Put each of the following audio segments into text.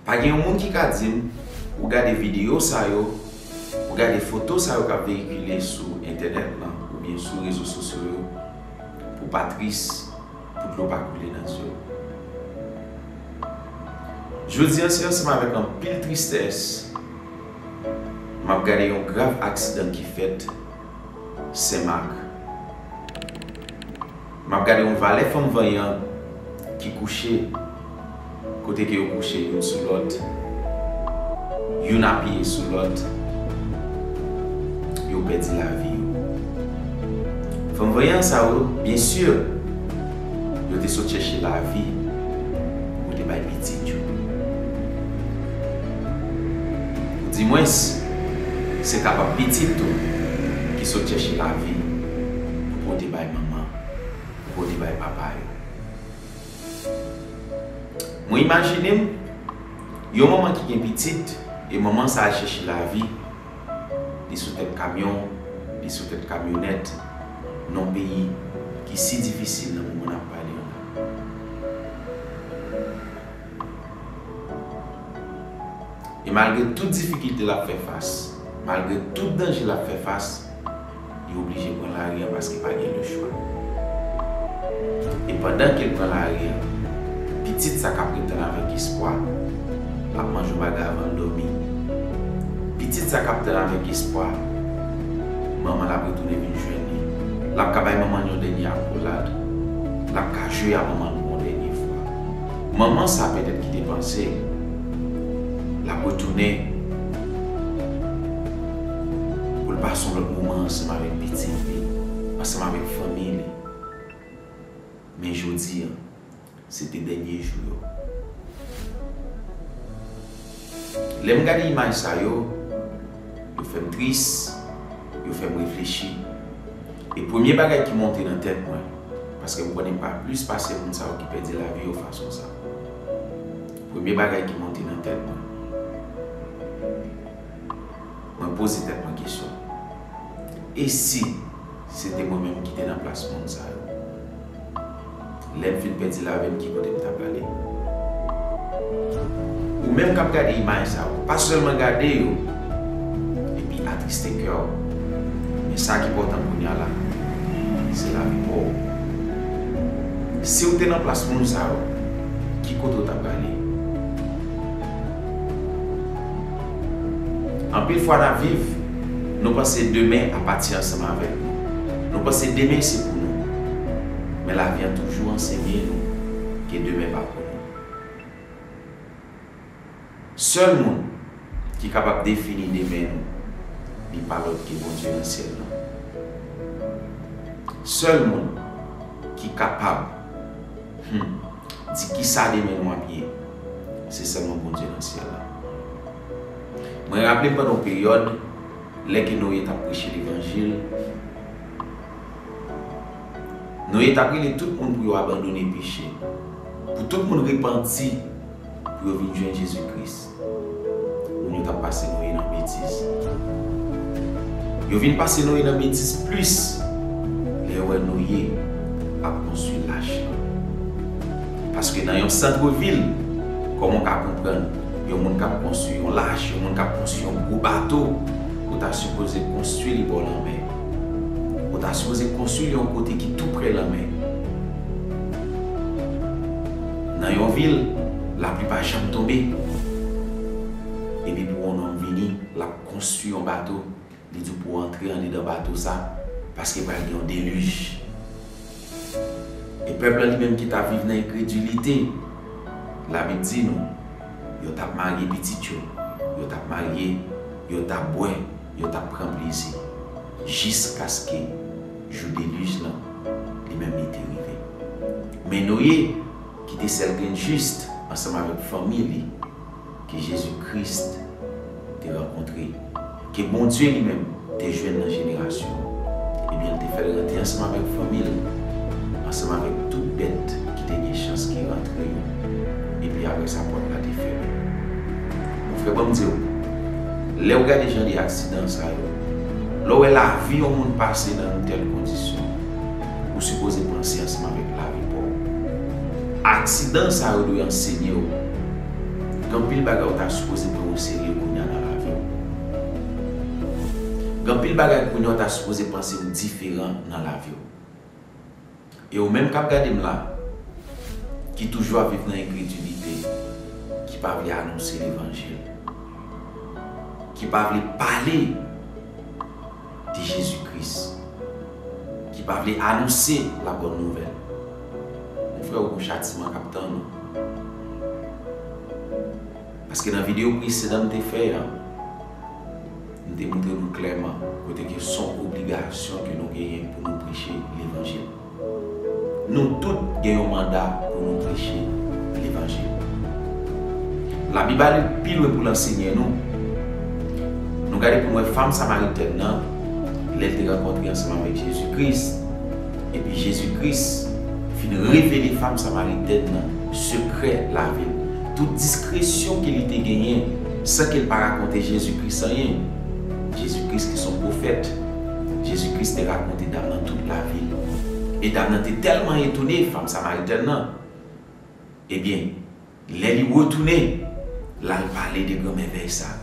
Pa gen yon moun ki ka di m pou gade videyo sa yo, pou gade foto sa yo k ap veyikile sou entènèt lan oubyen sou rezo sosyo yo pou w pa tris, pou dlo pa koule nan zye w. Jodi an se ansanm avèk anpil tristès m ap gade yon grav aksidan ki fèt Senmak. M ap gade yon valè fanm vanyan ki kouche kote ke yo kouche youn sou lòt, youn apiye sou lòt, yo pèdi lavi yo. Fanm vanyan sa yo, byen si, yo te sot chèche lavi pou yo te bay pitit yo. Ou di mwens, se kapab pitit ou ki sot chèche lavi pou pote ba Manman, ou konnen bay papa yo. Mwen imajine m, yon manman ki gen pitit, e manman sa al chèche lavi, li sou tèt kamyon, li sou tèt kamyonèt, non peyi ki si difisil nan moman n ap pale an la. E malgre tout difikilte l ap fè fas, malgre tout danje l ap fè fas, Li oblije pran lari an paske pa gen le chwa. E pandan ke l pran lari an, pitit sa k ap ret tann avèk espwa, l ap manje yon bagay avan l dòmi. Pitit sa k ap tann avèk espwa, manman l ap retounen vin jwenn li. L ap ka bay manman l yon dènye akolad. L ap ka jwe a manman l pou yon dènye fwa. Manman sa pètèt ki te panse l ap retounen. Pou l pase yon lòt moman ansanm avèk pitit li, ansanm avèk fanmi li. Men jodi a, se te dènye jou yo. Lè m gade imaj sa yo, yo fè m tris, yo fè m reflechi. E premye bagay ki monte nan tèt mwen, paske m konnen pa plis pase moun sa yo ki pèdi lavi yo fason sa. Premye bagay ki monte nan tèt mwen. mwen poze tèt mwen kesyon, e si se te mwen menm ki te nan plas moun sa yo? Lè m fin pèdi lavi m ki kote m ta prale? Ou menm k ap gade imaj sa yo, pa sèlman gade yo epi atriste kè w, men sa ki pòtan kounya la, se lavi pa w. Si w te nan plas moun sa yo, ki kote w ta prale? Anpil fwa nap viv, nou panse demen ap pati ansanm avèk nou. Nou panse demen se pou nou. Men lavi an toujou ansenye nou ke demen pa pou nou. Sèl moun ki kapab defini demen nou, li pa lòt ke Bondye nan syèl lan. Sèl moun ki kapab, humm. Di kisa demen nou ap ye? Se sèlman Bondye nan syèl la. Mwen raple pandan yon peryòd, lè ke Noye t ap preche levanjil, Noye t ap rele tout moun pou yo abandone peche, pou tout moun repanti, pou yo vin jwenn Jezi Kris. Moun yo tap pase Noye nan betiz. Yo vin pase Noye nan betiz plis lè yo wè Noye ap konstwi lach lan. Paske nan yon santre vil, kòman w ka konprann yon moun kap konstwi yon lach, yon moun kap konstwi yon gwo bato, ou ta sipoze konstwi li bò lanmè. Ou ta sipoze konstwi li yon kote ki tou prè lanmè. Nan yon vil, lapli pa janm tonbe. Epi pou yon nonm vini, l ap konstwi yon bato, li di w pou w antre andedan bato sa, paske pral gen yon delij. E pèp la li menm ki t ap viv nan enkredilite, Labib di nou, yo t ap marye pitit yo, yo t ap marye, yo t ap bwè, yo t ap pran plezi, jiskaske. Jou delij lan, li menm li te rive. Men Noye, ki te sèl grenn jis, ansanm avèk fanmi li, ke Jezi Kris te rankontre, ke Bondye li menm te jwenn nan jenerasyon an, ebyen l te fè l rantre ansanm avèk fanmi l, ansanm avèk tout bèt ki te gen chans ki rantre yo, epi apre sa pòt la te fèmen. Mon frè, ban m di w, lè ou gade jan de aksidan sa yo, Lè w wè lavi yon moun pase nan yon tèl kondisyon, ou sipoze panse ansanm avèk lavi pa w. Aksidan sa yo dwe ansenye w gen anpil bagay ou ta sipoze pran oserye kounye a nan lavi w. Gen anpil bagay kounye a ou ta sipoze panse ou diferan nan lavi w. E ou menm kap gade m la, ki toujou ap viv nan enkredilite, ki pa vle anonse levanjil, ki pa vle pale de Jezi Kris, ki pa vle anonse la bòn nouvèl, mon frè ou gon chatiman kap tann ou. Paske nan video presedan m te fè an, Nou te montre nou klèman kote ke son obligasyon ke nou genyen pou nou preche levanjil. Nou tout gen yon manda pou nou preche levanjil. Labib ale pi lwen pou'l ansenye nou. Nou gade pou nou wè fanm samaritèn nan lè'l te rankontre ansanm avèk Jezi Kris, epi Jezi Kris fin revele fanm samaritèn nan sekrè lavi'l. tout diskresyon ke li te genyen, san ke l pa rakonte Jezi Kris anyen. Jezi Kris ki s on pwofèt. Jezi Kris te rakonte dam nan tout lavi l. E dam nan te tèlman etone, fanm samaritèn nan, ebyen, lè li retounen, l al pale de gran mèvèy sa.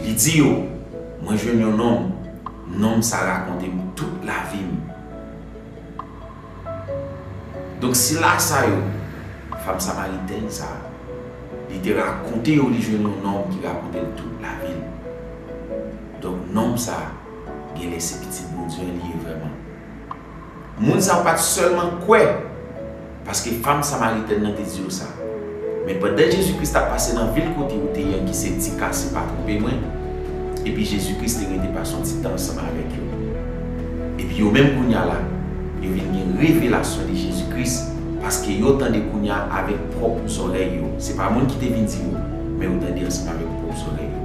Li di yo, Mwen jwenn yon nonm, nonm sa rakonte m tout lavi m. Donk sila sa yo, fanm samaritèn sa a, li te rakonte yo li jwenn yon nonm ki rakonte l tout lavi l. Donk nonm sa a, genlè se Pitit Bondye li ye vrèman. Moun sa yo pa t sèlman kwè paske fanm samaritèn nan te di yo sa. Men pandan Jezi Kris t ap pase nan vil kote ou te ye an ki se Tika, si m pa twonpe mwen, epi Jezi Kris te rete pase yon ti tan ansanm avèk yo. Epi yo menm kounye a la, yo vin gen revelasyon de Jezi Kris, paske yo tande kounye a avèk pwòp zòrèy yo. Se pa moun ki te vin di yo, men yo tande ansanm avèk pwòp zòrèy yo.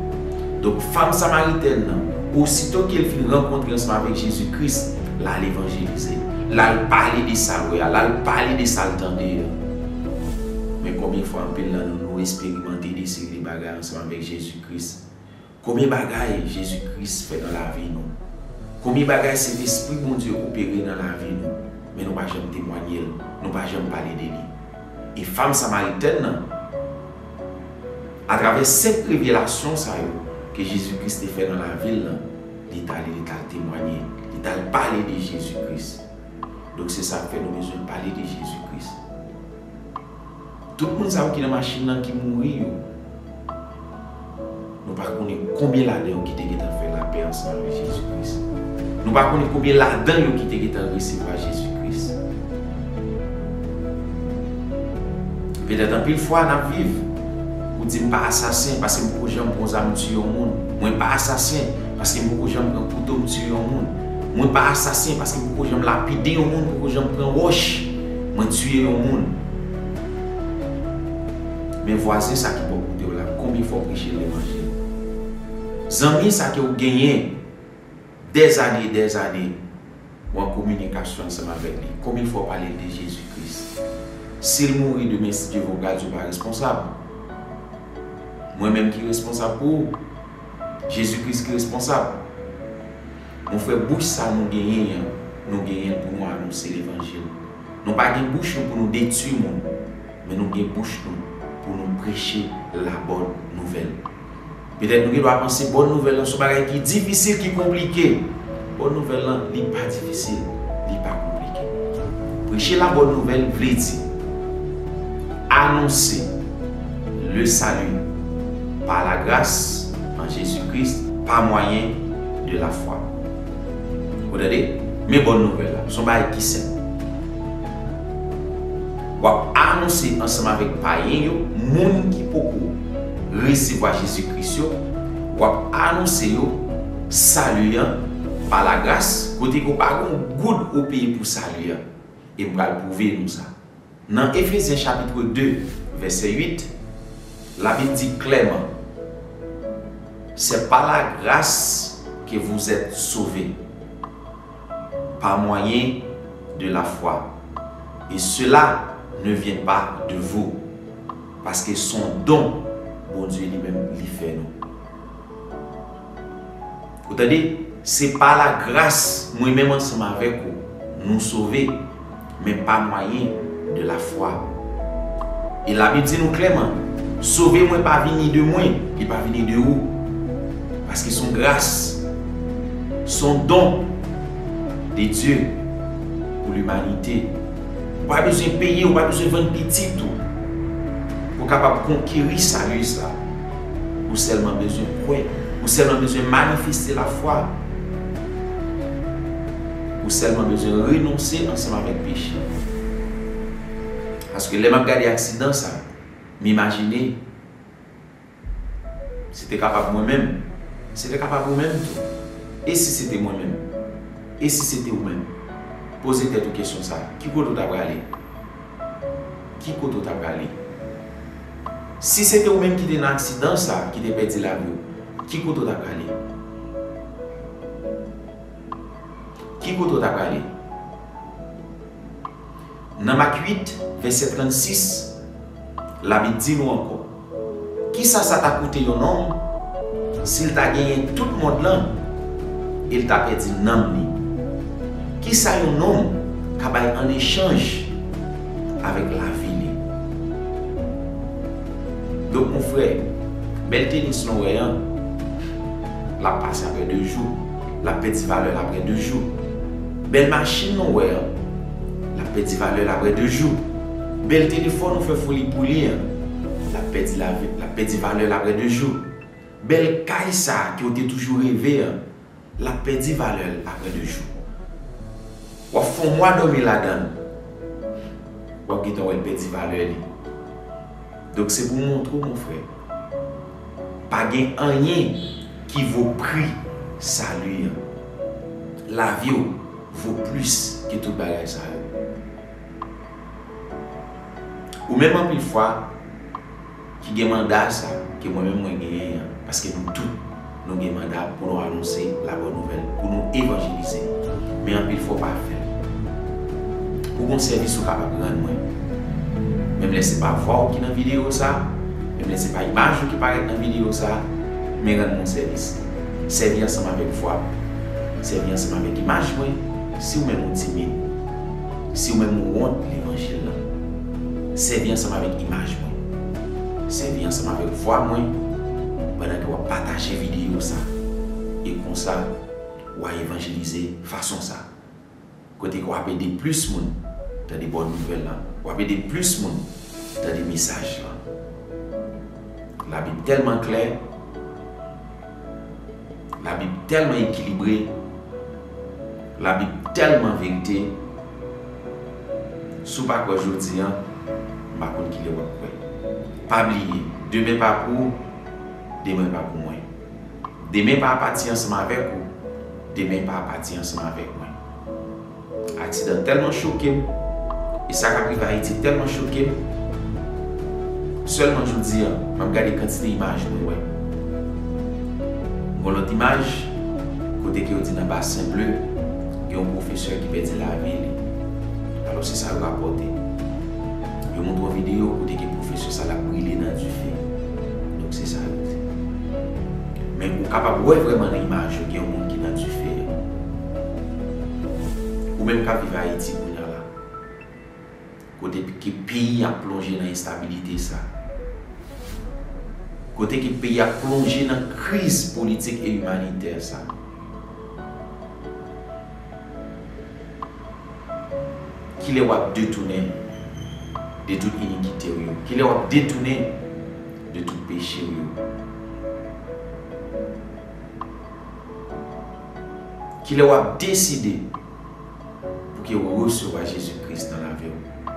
Donk, fanm samaritèn nan, osito ke l fin rankontre ansanm avèk Jezi Kris, l al evanjelize. L al pale de sa l wè a, l al pale de sa l tande a. Men konbyen fwa anpil nan nou nou esperimante de seri de bagay ansanm avèk Jezi Kris. Konbyen bagay Jezi Kris fè nan lavi nou. Konbyen bagay Sentespri Bondye opere nan lavi nou, men nou pa janm temwanye l, nou pa janm pale de li. E fanm Samaritèn nan, atravè senk revelasyon sa yo ke Jezi Kris te fè nan lavi l lan, li t ale li t al temwanye, li t al pale de Jezi Kris. Donk se sa k fè nou bezwen pale de Jezi Kris. Tout moun sa yo ki nan machin nan ki mouri yo, nou pa konnen konbyen ladan yo ki te gentan fè lapè ansanm avèk Jezi Kris. Nou pa konnen konbyen ladan yo ki te gentan resevwa Jezi Kris. Petèt anpil fwa n ap viv. Ou di m pa asasen paske m poko janm pran zam tiye yon moun. Mwen pa asasen. Paske poko janm pran kouto m tiye yon moun. Mwen pa asasen paske poko janm lapide yon moun, poko janm pran wòch mwen tiye yon moun. Men vwazen sa ki bò kote w la, konbyen fwa w preche levanjil? Zanmi sa ke w genyen dèzane e dèzane. Ou an kominikasyon ansanm avèk li. Konbyen fwa w pale l de Jezi Kris? Si l mouri demen si Dye vle w pral di w pa responsab. Mwen menm ki responsab pou ou? Jezi Kris ki responsab? Mon frè bouch sa nou genyen an nou genyen l pou nou anonse levanjil. Nou pa gen bouch nou pou nou detwi moun men nou gen bouch nou pou nou preche labòn nouvèl. Petèt nou gen dwa panse bòn nouvèl lan son bagay ki difisil, ki konplike. Bòn nouvèl lan, li pa difisil, li pa konplike. Preche la bòn nouvèl vle di anonse le salut par la grâce en Jésus Christ pa mwayen de la fwa. Ou tande? Men bòn nouvèl la, son bagay ki senp. W ap anonse ansanm avèk payen yo, moun ki poko resevwa Jezi Kris yo, w ap anonse yo Sali an pa lagras, kote ke w pa gen yon goud ou peye pou Sali an. E m pral pwouve nou sa. Nan Efezyen chapitre 2, vèsè 8, Labib di klèman, Se pa lagras ke vouzèt sove. par moyen de la foi, et cela ne vient pas de vous, paske son don Bondye li menm li fè nou. Ou tande? Se pa la gras mwen menm ansanm avèk ou nou sove. men pa mwayen de la fwa. E la Bib di nou klèman, Sove mwen pa vini de mwen, li pa vini de ou. Paske son gras, son don de Dye pou limanite. Ou pa bezwen peye, ou pa bezwen vann pitit ou pou kapab konkeri sali sa. Ou sèlman bezwen kwè, ou sèlman bezwen manifeste la fwa. Ou sèlman bezwen renonse ansanm avèk peche w. Paske lè m ap gade aksidan sa, m imajine se te kapab mwen menm, se te kapab ou menm tou. E si se te mwen menm? E si se te ou menm? Poze tèt ou kesyon sa, ki kote ou ta prale? Ki kote ou ta prale? Si se te ou menm ki te nan aksidan sa, ki te pèdi lavi w, ki kote ou ta prale? Ki kote w ta prale? Nan Mak 8, vèsè 36, Labib di nou ankò, Ki sa sa ta koute yon nonm si l ta genyen tout mond lan e l ta pèdi nanm li? Ki sa yon nonm ka bay an echanj avèk lavi li? Donk, monfrè, bèl tenis lan w wè an, l ap pase apre de jou. lap pèdi valè l aprè 2 jou. Bèl machin nou wè an, lap pèdi valè l aprè 2 jou. Bèl telefòn ou fè foli pou li an, lap pèdi lavi, lap pèdi valè l aprè 2 jou. Bèl kay sa a ke w te toujou reve an, lap pèdi valè l aprè 2 jou. Wap fon mwa dòmi ladan l, wap gentan wè l pèdi valè li. Donk se pou m montre w mon frè. Pa gen anyen ki vo pri sali an. Lavi w vo plis ke tout bagay sa yo. Ou menm anpil fwa ki gen manda sa ke mwen menm mwen genyen an, paske nou tout Nou gen manda pou nou anonse la bòn nouvèl, pou nou evanjelize. Men anpil fwa w pa fè l. Ou gon sèvis ou kapab rann mwen. Menm lè se pa vwa w ki nan videyo sa, menm lè se pa imaj ou ki parèt nan videyo sa, men rann mwen yon sèvis. Sèvi ansanm avèk vwa m. Sèvi ansanm avèk imaj mwen, si ou menm ou timid. Si ou menm ou wont levanjil lan. Sèvi ansanm avèk imaj mwen. Sèvi ansanm avèk vwa mwen pandan ke w ap pataje videyo sa a, e konsa ou a evanjelize fason sa a, kote ke w ap ede plis moun tande bon nouvèl la, w ap ede plis moun tande mesaj la. Labib tèlman klè, Labib tèlman ekilibre, Labib tèlman verite. Si w pa kwè jodi an, m pa konn ki lè w ap kwè. Pa bliye, demen pa pou ou, demen pa pou mwen. Demen pa pati ansanm avèk ou, demen pa pati ansanm avèk mwen. Aksidan tèlman choke m, e sa k ap rive Ayiti tèlman choke m, sèlman jodi an, m ap gade kantite imaj mwen wè. Gon lòt imaj, kote ke yo di nan Basen Ble, gen yon pwofesè ki pèdi lavi li. Alò se sa yo rapòte. Yo montre yon videyo kote gen pwofesè sa l ap brile nan dife. Donk se sa yo di. Men ou kapab wè vrèman nan imaj yo gen yon moun ki nan dife a. Ou menm k ap viv Ayiti kounya la. Kote ke peyi a plonje nan enstabilite sa. Kote ke peyi a plonje nan kriz politik e imanitè sa. Kilè w ap detounen de tout inikite w yo? Kilè w ap detounen de tout peche w yo? Kilè w ap deside. pouki ou resevwa Jezi Kris nan lavi w.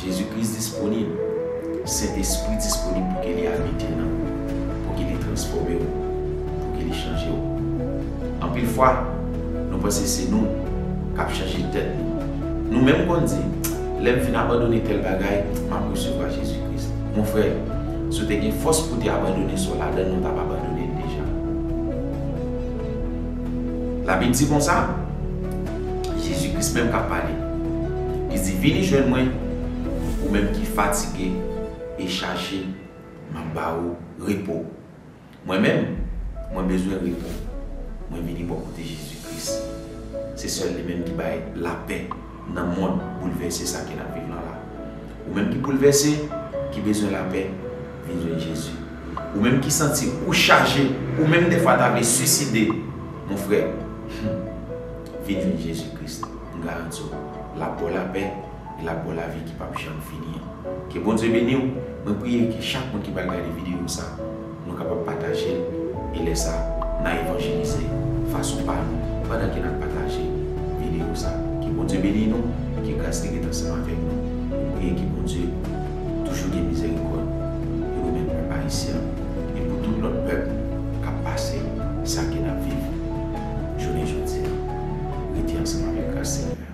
Jezi Kris disponib, Sentespri disponib pouki li abite nan ou, pouki li transfòme ou, pouki li chanje ou. Anpil fwa, nou panse se nou k ap chanje tèt nou. Nou menm konn di, Lè m fin abandone tèl bagay, m ap resevwa Jezi Kris. Monfrè, si w te gen fòs pou w te abandone sa w ladan l, ou t ap abandone l deja. Labib di konsa, Jezi Kris menm k ap pale, li di, Vini jwenn mwen, ou menm ki fatige e chaje, m ap ba ou repo. Mwen menm, mwen bezwen repo. Mwen vini bò kote Jezi Kris. Se sèl li menm ki bay lapè. nan mond boulvèse sa ke nap viv lan la. Ou menm ki boulvèse, ki bezwen lapè, vin jwenn Jezi. Ou menm ki santi ou chaje, ou menm defwa ta vle suiside, mon frè, hum, vin jwenn Jezi Kris, m garanti w, lap baw lapè, e lap baw lavi ki pap janm fini an. Ke Bondye beni w, mwen priye ke chak moun ki pral gade videyo sa, Nou kapab pataje l e lè sa n a evanjelize fason pa nou pandan ke n ap pataje video sa. Ke Bondye beni nou, ke gras li ret ansanm avèk nou. Nou priye ke Bondye toujou gen mizerikòd pou nou menm pèp Ayisyen an e pou tout lòt pèp k ap pase sa ke n ap viv jounen jodi a. Rete ansanm avèk gras Senyè a.